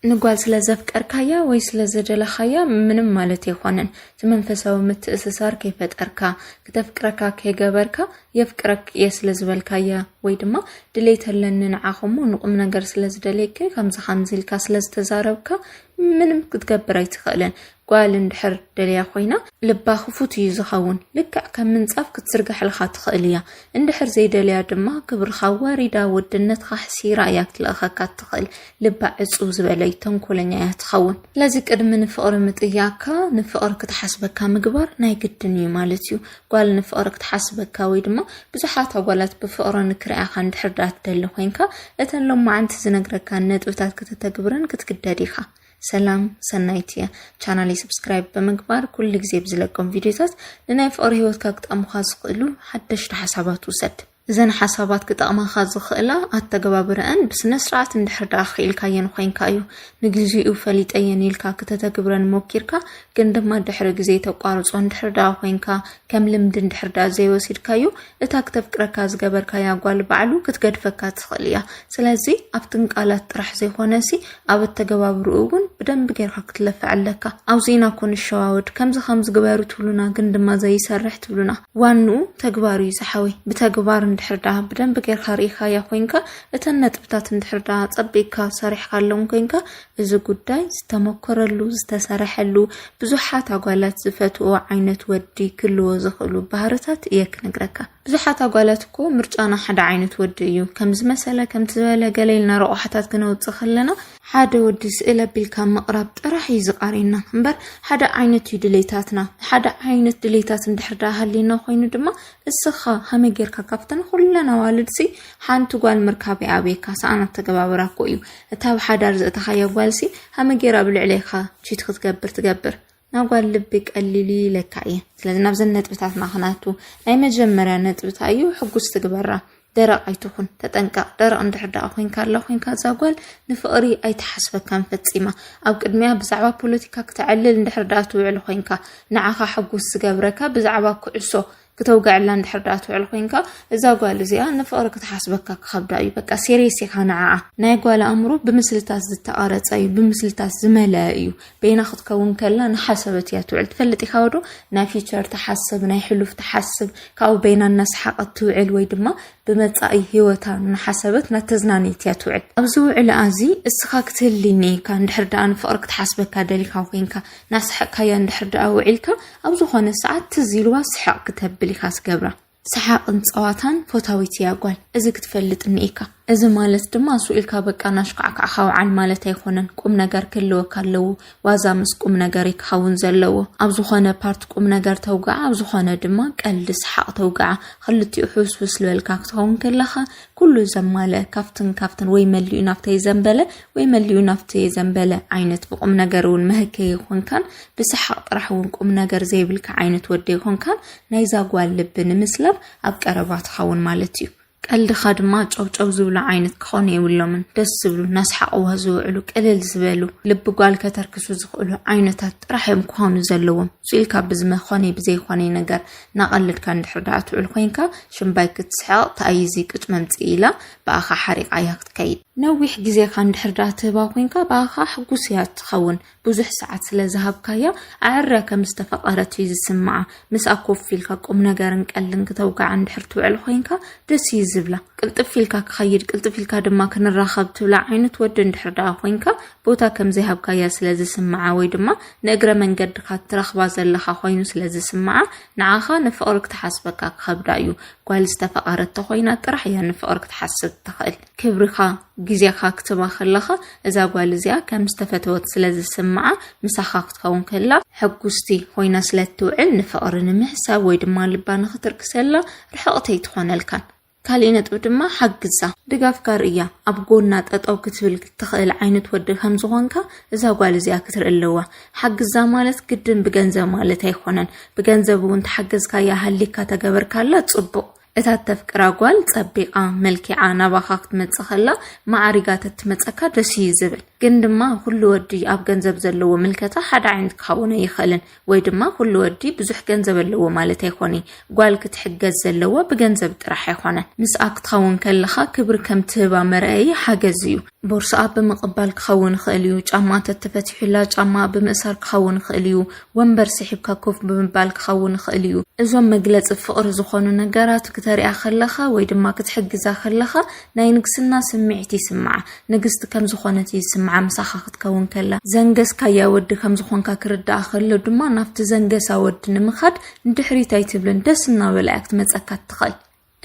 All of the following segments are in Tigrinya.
ንጓል ስለ ዘፍቀርካያ ወይ ስለ ዘደለኻያ ምንም ማለት ኣይኮነን። እቲ መንፈሳዊ ምትእስሳር ከይፈጠርካ ክተፍቅረካ ከይገበርካ የፍቅረክ እየ ስለ ዝበልካያ ወይ ድማ ድሌት ኣለኒ ንዓኹሞ ንቁም ነገር ስለ ዝደልየኪ ከምዚ ከምዚ ኢልካ ስለ ዝተዛረብካ ምንም ክትገብር ኣይትኽእልን። ጓል እንድሕር ደልያ ኮይና ልባ ክፉት እዩ ዝኸውን፣ ልክዕ ከም ምንጻፍ ክትዝርገሐልካ ትኽእል እያ። እንድሕር ዘይደልያ ድማ ክብርኻ ኣዋሪዳ ወድነትኻ ሕሲራ እያ ክትልእኸካ እትኽእል። ልባ ዕጽው ዝበለ እዩ፣ ተንኮለኛ እያ ትኸውን። ስለዚ ቅድሚ ንፍቕሪ ምጥያቅካ ንፍቕሪ ክትሓስበካ ምግባር ናይ ግድን እዩ ማለት እዩ። ጓል ንፍቕሪ ክትሓስበካ ወይ ድማ ብዙሓት ኣጓላት ብፍቕሪ ንክርኣያኻ እንድሕር ደኣ ትደሊ ኮይንካ እተን ሎማዓንቲ ዝነግረካን ነጥብታት ከተተግብረን ክትግደድ ኢኻ። ሰላም ሰናይት እያ ቻናለይ ሰብስክራይብ ብምግባር ኩሉ ግዜ ብዝለቆም ቪድዮታት ንናይ ፍቕሪ ሂወትካ ክጠቕሙኻ ዝኽእሉ ሓደሽቲ ሓሳባት ውሰድ እዘን ሓሳባት ክጠቕማኻ ዝኽእላ ኣተገባብረአን ብስነ ስርዓት እንድሕር ደኣ ክኢልካየን ኮይንካ እዩ ንግዚኡ ፈሊጠየን ኢልካ ክተተግብረን ሞኪርካ ግን ድማ ድሕሪ ግዜ ተቋርጾ እንድሕር ደኣ ኮይንካ ከም ልምዲ እንድሕር ደኣ ዘይወሲድካዮ እታ ክተፍቅረካ ዝገበርካያ ጓል ባዕሉ ክትገድፈካ ትኽእል እያ ስለዚ ኣብትን ቃላት ጥራሕ ዘይኮነ ሲ ኣብ ኣተገባብርኡ እውን ብደንብ ጌርካ ክትለፍዕ ኣለካ ኣብዚ ኢና እኮ ንሸዋወድ ከምዚ ከምዚ ግበሩ ትብሉና ግን ድማ ዘይሰርሕ ትብሉና ዋንኡ ተግባር እዩ ዝሓወይ ብተግባር እንድሕር ደኣ ብደንብ ጌርካ ርኢካያ ኮንካ እተን ነጥብታት እንድሕር ደኣ ጸቢቅካ ሰሪሕካሎም ኮንካ እዚ ጉዳይ ዝተመኮረሉ ዝተሰረሐሉ ብዙሓት ኣጓላት ዝፈትዎ ዓይነት ወዲ ክልዎ ዝኽእሉ ባህርታት እየ ክነግረካ። ብዙሓት ኣጓላት እኮ ምርጫና ሓደ ዓይነት ወዲ እዩ ከምዚ መሰለ ከምቲ ዝበለ ገለ ኢልና ረቑሓታት ክነውፅእ ከለና ሓደ ወዲ ስእል ኣቢልካ ምቕራብ ጥራሕ እዩ ዝቃርየና እምበር ሓደ ዓይነት እዩ ድሌታትና ሓደ ዓይነት ድሌታት እንድሕር ዳኣ ሃልየና ኮይኑ ድማ እስኻ ሃመይ ጌርካ ካብተን ኩለን ኣዋልድሲ ሓንቲ ጓል ምርካብ ይኣብየካ ሰኣን ኣተገባብራ እኮ እዩ እታ ኣብ ሓዳር ዘእተኻያ ጓልሲ ሃመ ጌራ ኣብ ልዕሌኻ ቺት ክትገብር ትገብር ናብ ጓል ልቢ ቀሊል ኢለካ እየ ስለዚ ናብዘን ነጥብታትና ክናቱ ናይ መጀመርያ ነጥብታ እዩ ሕጉስ ትግበራ ደረቕ ኣይትኹን ተጠንቀቕ ደረቕ እንድሕር ደኣ ኮንካ ኣላ ኮንካ እዛ ጓል ንፍቕሪ ኣይትሓስበካን ፈጺማ ኣብ ቅድሚያ ብዛዕባ ፖለቲካ ክተዕልል እንድሕር ደኣ ትውዕል ኮንካ ንዓኻ ሕጉስ ዝገብረካ ብዛዕባ ኩዕሶ ክተውግዐላ እንድሕር ደኣ ትውዕል ኮይንካ እዛ ጓል እዚኣ ንፍቕሪ ክትሓስበካ ክኸብዳ እዩ በቃ ሴሪየስ ኢኻ ንዓኣ ናይ ጓል ኣእምሮ ብምስልታት ዝተቐረጸ እዩ ብምስልታት ዝመለአ እዩ በይና ክትከውን ከላ ንሓሰበት እያ ትውዕል ትፈልጥ ኢኻ ወዶ ናይ ፊቸር ትሓስብ ናይ ሕሉፍ ትሓስብ ካብኡ በይና እናሰሓቐት ትውዕል ወይ ድማ ብመጻኢ ህይወታ እናሓሰበት ናተዝናነየት እያ ትውዕል ኣብዚ ውዕል ኣዚ እስኻ ክትህልኒ ኢካ እንድሕር ደኣ ንፍቕሪ ክትሓስበካ ደሊካ ኮይንካ ናሰሓቅካያ እንድሕር ደኣ ውዒልካ ኣብ ዝኾነ ሰዓት ትዝ ኢልዋ ስሕቕ ክተብል ኢኻ ትገብራ። ሰሓቕን ጸዋታን ፎታዊት እያ ጓል፣ እዚ ክትፈልጥ እኒኤካ። እዚ ማለት ድማ ሱቕ ኢልካ በቃ ናሽካዕካዕካ ውዓል ማለት ኣይኮነን፣ ቁም ነገር ክህልወካ ኣለዎ። ዋዛ ምስ ቁም ነገር እዩ ክኸውን ዘለዎ። ኣብ ዝኾነ ፓርት ቁም ነገር ተውግዓ፣ ኣብ ዝኾነ ድማ ቀልዲ ሰሓቕ ተውግዓ። ክልቲኡ ሕውስውስ ዝበልካ ክትኸውን ከለኻ ኩሉ ዘማልአ ካብትን ካብትን ወይ መሊኡ ናብታ ይዘንበለ ወይ መሊኡ ናብቲ ዘንበለ ዓይነት ብቁም ነገር እውን መህከ ይኾንካን ብሰሓቕ ጥራሕ እውን ቁም ነገር ዘይብልካ ዓይነት ወደ ይኾንካን ናይዛ ጓል ልቢ ንምስላብ ኣብ ቀረባ ትኸውን ማለት እዩ። ቀልድኻ ድማ ጨብጨብ ዝብሉ ዓይነት ክኾኑ የብሎምን። ደስ ዝብሉ ናስሓቕዋ ዝውዕሉ ቅልል ዝበሉ ልቢ ጓል ከተርክሱ ዝኽእሉ ዓይነታት ጥራሕ እዮም ክኾኑ ዘለዎም። ስኢልካ ብዝመኾነይ ብዘይኾነይ ነገር ናቐልድካ እንድሕር ደኣ ትውዕል ኮይንካ ሽምባይ ክትስሕቕ ተኣይዚ ቅጭ መምፅኢ ኢላ ብኣኻ ሓሪቓ እያ ክትከይድ። ነዊሕ ግዜኻ እንድሕር ደኣ ትህባ ኮንካ ብኣኻ ከኣ ሕጉስ እያ እትኸውን። ብዙሕ ሰዓት ስለ ዝሃብካያ ኣዐርያ ከም ዝተፈቐረት እዩ ዝስምዓ። ምስኣ ኮፍ ኢልካ ቁምነገርን ቀልድን ክተውግዓ እንድሕር ትውዕል ኮይንካ ደስ እዩ ዝብላ። ቅልጥፍ ኢልካ ክኸይድ ቅልጥፍ ኢልካ ድማ ክንራኸብ ትብላ ዓይነት ወዲ እንድሕር ደኣ ኮይንካ ቦታ ከም ዘይሃብካያ ስለ ዝስምዓ ወይ ድማ ንእግረ መንገድካ እትረኽባ ዘለኻ ኮይኑ ስለ ዝስምዓ ንዓኻ ንፍቕሪ ክትሓስበካ ክኸብዳ እዩ። ጓል ዝተፈቐረት ተኾይና ጥራሕ እያ ንፍቕሪ ክትሓስብ እትኽእል። ክብርኻ፣ ግዜኻ ክትባ ከለኻ እዛ ጓል እዚኣ ከም ዝተፈተወት ስለ ዝስምዓ ምሳኻ ክትከውን ከላ ሕጉስቲ ኾይና ስለ እትውዕል ንፍቕሪ ንምሕሳብ ወይ ድማ ልባ ንኽትርክሰላ ርሕቕቲ ኣይትኾነልካን። ካሊእ ነጥቢ ድማ ሓግዛ። ድጋፍካ ርእያ ኣብ ጎና ጠጠው ክትብል እትኽእል ዓይነት ወዲ ከም ዝኾንካ እዛ ጓል እዚኣ ክትርኢ ኣለዋ። ሓግዛ ማለት ግድን ብገንዘብ ማለት ኣይኮነን። ብገንዘብ እውን ተሓገዝካያ ሃሊካ ተገበርካላ ጽቡቕ። እታ እተፍቅራ ጓል ጸቢቓ መልኪዓ ናባኻ ክትመጽእ ከላ ማዕሪጋ ተትመጸካ ደስ እዩ ዝብል። ግን ድማ ኩሉ ወዲ ኣብ ገንዘብ ዘለዎ ምልከታ ሓደ ዓይነት ክኸውን ኣይኽእልን። ወይ ድማ ኩሉ ወዲ ብዙሕ ገንዘብ ኣለዎ ማለት ኣይኮነይ። ጓል ክትሕገዝ ዘለዋ ብገንዘብ ጥራሕ ኣይኮነን። ምስኣ ክትኸውን ከለኻ ክብሪ ከም ትህባ መርኣዪ ሓገዝ እዩ። ቦርስኣ ብምቕባል ክኸውን ይኽእል እዩ። ጫማ እንተተፈቲሑላ ጫማኣ ብምእሳር ክኸውን ይኽእል እዩ። ወንበር ስሒብካ ኮፍ ብምባል ክኸውን ይኽእል እዩ። እዞም መግለጺ ፍቕሪ ዝኾኑ ነገራት ክተሪኣ ከለኻ ወይ ድማ ክትሕግዛ ከለኻ ናይ ንግስና ስምዒት ይስምዓ። ንግስቲ ከም ዝኾነት እዩ ዝስምዓ ምሳኻ ክትከውን ከላ። ዘንገስካያ ወዲ ከም ዝኾንካ ክርድኣ ከሎ ድማ ናብቲ ዘንገሳ ወዲ ንምኻድ ንድሕሪት ኣይትብልን። ደስ እናበላ እያ ክትመጸካ እትኽእል።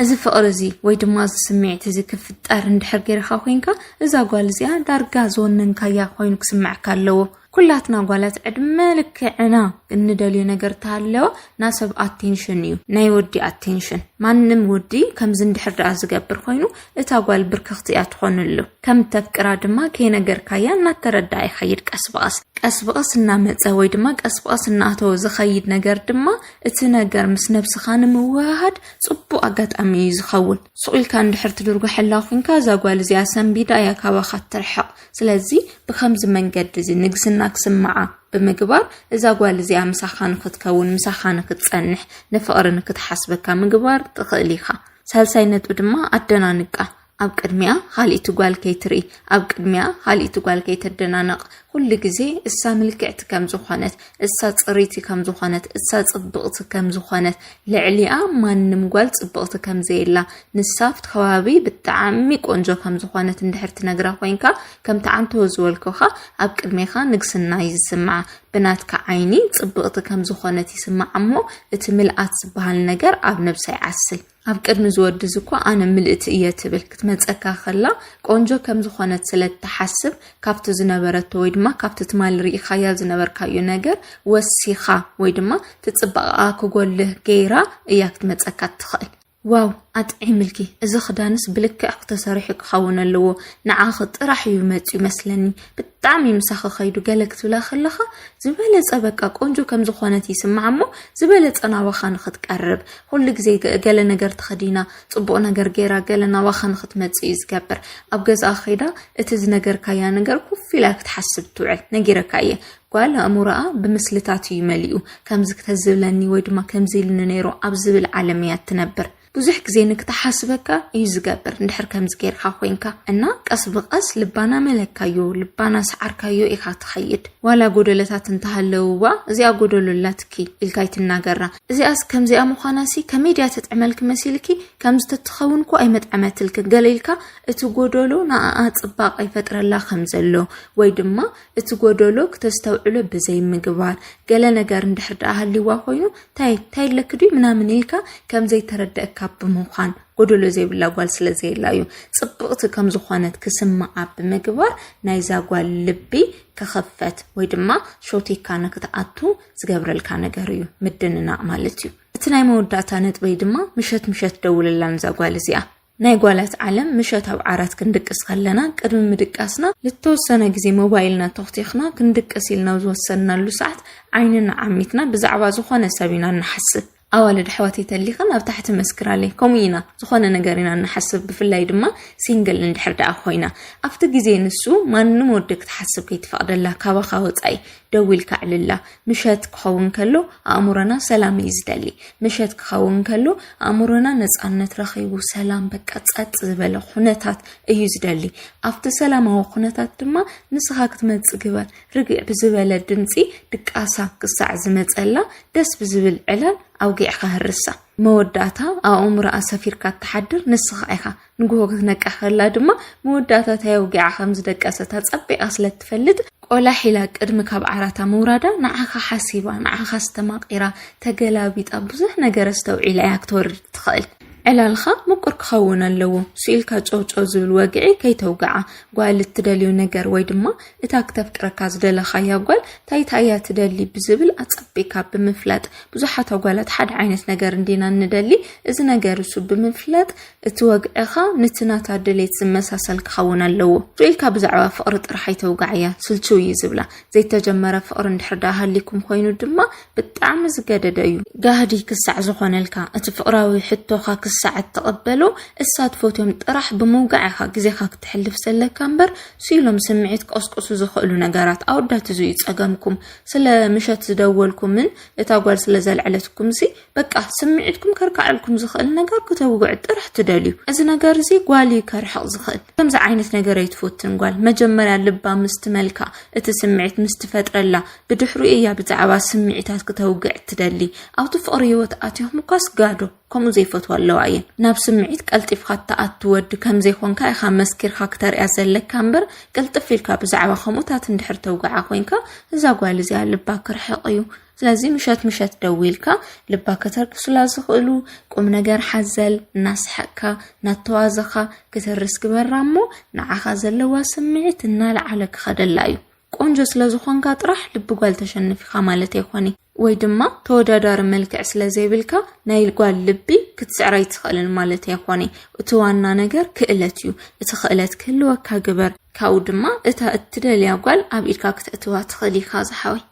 እዚ ፍቕሪ እዚ ወይ ድማ እዚ ስምዒት እዚ ክፍጠር እንድሕር ገይርኻ ኮይንካ እዛ ጓል እዚኣ ዳርጋ ዝወነንካያ ኮይኑ ክስምዐካ ኣለዎ ኩላትና ጓላት ዕድመ ልክዕና እንደልዮ ነገር እንተሃለወ ናይ ሰብ ኣቴንሽን እዩ ናይ ወዲ ኣቴንሽን ማንም ወዲ ከምዚ እንድሕር ደኣ ዝገብር ኮይኑ እታ ጓል ብርክኽቲ እያ ትኾንሉ ከም ተፍቅራ ድማ ከይነገርካያ እናተረድኣ ይኸይድ ቀስ ብቐስ ቀስ ብቐስ እናመፀ ወይ ድማ ቀስ ብቐስ እናኣተወ ዝኸይድ ነገር ድማ እቲ ነገር ምስ ነብስኻ ንምውህሃድ ጽቡቅ ኣጋጣሚ እዩ ዝኸውን ሱቅ ኢልካ እንድሕር ትድርጉሐላ ኩንካ እዛ ጓል እዚኣ ሰንቢዳ እያ ካባኻ ትርሕቅ ስለዚ ብከምዚ መንገዲ እዚ ንግስና ክስምዓ ብምግባር እዛ ጓል እዚኣ ምሳኻ ንክትከውን ምሳኻ ንክትጸንሕ ንፍቅሪ ንክትሓስበካ ምግባር ትኽእል ኢኻ ሳልሳይ ነጥቢ ድማ ኣደናንቃ ኣብ ቅድሚኣ ኻልኢቲ ጓል ከይትርኢ፣ ኣብ ቅድሚኣ ኻልኢቲ ጓል ከይተደናነቕ፣ ኹሉ ግዜ እሳ ምልክዕቲ ከም ዝኾነት፣ እሳ ፅሪቲ ከም ዝኾነት፣ እሳ ፅብቕቲ ከም ዝኾነት፣ ልዕሊኣ ማንም ጓል ፅብቕቲ ከም ዘየላ፣ ንሳ ኣብቲ ከባቢ ብጣዕሚ ቆንጆ ከም ዝኾነት እንድሕር ትነግራ ኮይንካ፣ ከምቲ ዓንተቦ ዝበልኩኻ ኣብ ቅድሜኻ ንግስና እዩ ዝስምዓ፣ ብናትካ ዓይኒ ፅብቕቲ ከም ዝኾነት ይስምዓ እሞ እቲ ምልኣት ዝበሃል ነገር ኣብ ነብሳ ይዓስል። ኣብ ቅድሚ ዝወድዝ እኮ ኣነ ምልእቲ እየ ትብል ክትመፀካ ከላ ቆንጆ ከም ዝኾነት ስለ እትሓስብ ካብቲ ዝነበረቶ ወይ ድማ ካብቲ ትማሊ ርኢኻያ ዝነበርካዮ ነገር ወሲኻ ወይ ድማ ትፅባቐኣ ክጎልህ ገይራ እያ ክትመፀካ እትኽእል ዋው ኣጥዒምልኪ እዚ ክዳንስ ብልክዕ ክተሰርሑ ክኸውን ኣለዎ ንዓኺ ጥራሕ እዩ መፅዩ መስለኒ ብጣዕሚ እዩ ምሳኺ ከይዱ ገለ ክትብላ ከለኻ ዝበለጸ በቃ ቆንጆ ከም ዝኾነት ይስማዓ እሞ ዝበለጸ ናባኻ ንኽትቀርብ ኩሉ ግዜ ገ- ገለ ነገር ተኸዲና ጽቡቕ ነገር ገይራ ገለ ናባኻ ንኽትመጽእ እዩ ዝገብር ኣብ ገዝኣ ከይዳ እቲ ዝነገርካያ ነገር ኩፍ ኢላ ክትሓስብ ትውዕል ነጊረካ እየ ጓል ኣእምሮኣ ብምስልታት እዩ መሊኡ ከምዚ ክተዝብለኒ ወይ ድማ ከምዚ ኢልኒ ነይሩ ኣብ ዝብል ዓለም እያ እትነብር ብዙሕ ግዜ ንክተሓስበካ እዩ ዝገብር እንድሕር ከምዚ ጌርካ ኮይንካ እና ቀስ ብቀስ ልባና መለካዮ ልባና ሰዓርካዮ ኢኻ ትኸይድ ዋላ ጎደለታት እንተሃለውዋ እዚኣ ጎደሎ ኣላትኪ ኢልካ ይትናገራ እዚኣስ ከምዚኣ ምዃናሲ ከመይ ድያ ተጥዕመልኪ መሲልኪ ከምዚ ተትኸውን እኮ ኣይመጥዐመትልኪ ገለ ኢልካ እቲ ጎደሎ ንኣኣ ጽባቐ ይፈጥረላ ከም ዘሎ ወይ ድማ እቲ ጎደሎ ክተስተውዕሎ ብዘይምግባር ገለ ነገር እንድሕር ደኣ ሃልይዋ ኮይኑ ታይ ታይ ኣለኪ ድዩ ምናምን ኢልካ ከም ዘይተረደእካ ብምዃን ጎደሎ ዘይብላ ጓል ስለ ዘየላ እዩ ጽብቕቲ ከም ዝኾነት ክስምዓ ብምግባር ናይዛ ጓል ልቢ ክኽፈት ወይ ድማ ሾቲካ ንክትኣቱ ዝገብረልካ ነገር እዩ ምድንናቕ ማለት እዩ እቲ ናይ መወዳእታ ነጥበይ ድማ ምሸት ምሸት ደውለላ ንዛ ጓል እዚኣ ናይ ጓላት ዓለም ምሸት ኣብ ዓራት ክንድቅስ ከለና ቅድሚ ምድቃስና ልተወሰነ ግዜ ሞባይልና ቶኽቲኽና ክንድቅስ ኢልና ኣብ ዝወሰንናሉ ሰዓት ዓይንና ዓሚትና ብዛዕባ ዝኾነ ሰብ ኢና እንሓስብ ኣዋልድ ኣሕዋተይ ተሊኽን ኣብ ታሕቲ መስክራለይ ከምኡ ኢና ዝኾነ ነገር ኢና እንሓስብ ብፍላይ ድማ ሲንግል እንድሕር ደኣ ኮይና ኣብቲ ግዜ ንሱ ማንም ወዲ ክትሓስብ ከይትፈቕደላ ካባኻ ወጻኢ ደዊልካ ኣዕልላ ምሸት ክኸውን ከሎ ኣእምሮና ሰላም እዩ ዝደሊ። ምሸት ክኸውን ከሎ ኣእምሮና ነጻነት ረኺቡ ሰላም በቃ ጸጥ ዝበለ ኩነታት እዩ ዝደሊ። ኣብቲ ሰላማዊ ኩነታት ድማ ንስኻ ክትመጽእ ግበር። ርግዕ ብዝበለ ድምጺ ድቃሳ ክሳዕ ዝመጸላ ደስ ብዝብል ዕላል ኣውጊዕካ ህርሳ። መወዳእታ ኣእምሮኣ ሰፊርካ እትሓድር ንስኻ ኢኻ። ንግሆ ክትነቅሕ ከላ ድማ መወዳእታ እንታይ ኣውጊዓ ከም ዝደቀሰት ኣጸቢቓ ስለ እትፈልጥ፣ ቆላሕ ኢላ ቅድሚ ካብ ዓራታ ምውራዳ ንዓኻ ሓሲባ፣ ንዓኻ ኣስተማቒራ፣ ተገላቢጣ፣ ብዙሕ ነገር ኣስተውዒላ እያ ክትወርድ እትኽእል። ዕላልካ ምቁር ክኸውን ኣለዎ፣ ስኢልካ ጨው ጨው ዝብል ወግዒ ከይተውግዓ። ጓል እትደልዮ ነገር ወይ ድማ እታ ክተፍቅረካ ዝደለኻያ ጓል እንታይ እንታይ እያ ትደሊ ብዝብል ኣጸቢቕካ ብምፍላጥ፣ ብዙሓት ኣጓላት ሓደ ዓይነት ነገር እንዲና እንደሊ፣ እዚ ነገር እሱ ብምፍላጥ እቲ ወግዕኻ ንቲ ናታ ድሌት ዝመሳሰል ክኸውን ኣለዎ። ጆይካ ብዛዕባ ፍቕሪ ጥራሕ ኣይተውጋዓያ ስልችው እዩ ዝብላ። ዘይተጀመረ ፍቕሪ እንድሕር ደኣ ሃሊኩም ኮይኑ ድማ ብጣዕሚ ዝገደደ እዩ። ጋህዲ ክሳዕ ዝኾነልካ እቲ ፍቕራዊ ሕቶኻ ክሳዕ እትቕበሎ እሳ ትፈትዮም ጥራሕ ብምውጋዕ ኢኻ ግዜኻ ክተሕልፍ ዘለካ እምበር ስኢሎም ስምዒት ክቕስቅሱ ዝኽእሉ ነገራት ኣወዳት እዚ እዩ ጸገምኩም ስለ ምሸት ዝደወልኩምን እታ ጓል ስለ ዘልዐለትኩምሲ በቃ ስምዒትኩም ከርካዐልኩም ዝኽእል ነገር ክተውግዕ ጥራሕ ትደልዩ እዚ ነገር እዚ ጓል እዩ ከርሕቕ ዝኽእል ከምዚ ዓይነት ነገር ኣይትፈትን ጓል መጀመርያ ልባ ምስ ትመልካ እቲ ስምዒት ምስ ትፈጥረላ ብድሕሩ እያ ብዛዕባ ስምዒታት ክተውግዕ ትደሊ ኣብቲ ፍቕሪ ህይወት ኣትኹም እኳስ ጋዶ ከምኡ ዘይፈትዋ ኣለዋ እየን ናብ ስምዒት ቀልጢፍካ እትኣቱ ወዲ ከም ዘይኮንካ ኢኻ መስኪርካ ክተርያ ዘለካ እምበር ቅልጥፍ ኢልካ ብዛዕባ ከምኡታት እንድሕር ተውግዓ ኮንካ እዛ ጓል እዚኣ ልባ ክርሕቕ እዩ ስለዚ ምሸት ምሸት ደዊልካ ልባ ከተርክሱላ ዝኽእሉ ቁም ነገር ሓዘል እናሰሐቅካ እናተዋዘኻ ክትርስ ግበራ እሞ ንዓኻ ዘለዋ ስምዒት እናለዓለ ክኸደላ እዩ። ቆንጆ ስለ ዝኾንካ ጥራሕ ልቢ ጓል ተሸንፊኻ ማለት ኣይኮነ ወይ ድማ ተወዳዳሪ መልክዕ ስለ ዘይብልካ ናይ ጓል ልቢ ክትስዕር ኣይትኽእልን ማለት ኣይኮነ። እቲ ዋና ነገር ክእለት እዩ። እቲ ክእለት ክህልወካ ግበር። ካብኡ ድማ እታ እትደልያ ጓል ኣብ ኢድካ ክተእትዋ ትኽእል ኢኻ ዝሓወይ።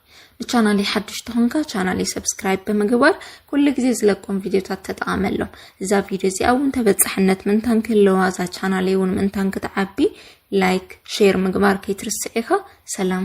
ንቻናለይ ሓዱሽ ተኾንካ ቻናለይ ሰብስክራይብ ብምግባር ኩሉ ግዜ ዝለቆም ቪድዮታት ተጠቓመሎም እዛ ቪድዮ እዚኣ እውን ተበፃሕነት ምንታን ክህለዋ እዛ ቻናለይ እውን ምንታን ክትዓቢ ላይክ ሼር ምግባር ከይትርስዕ ኢኻ ሰላም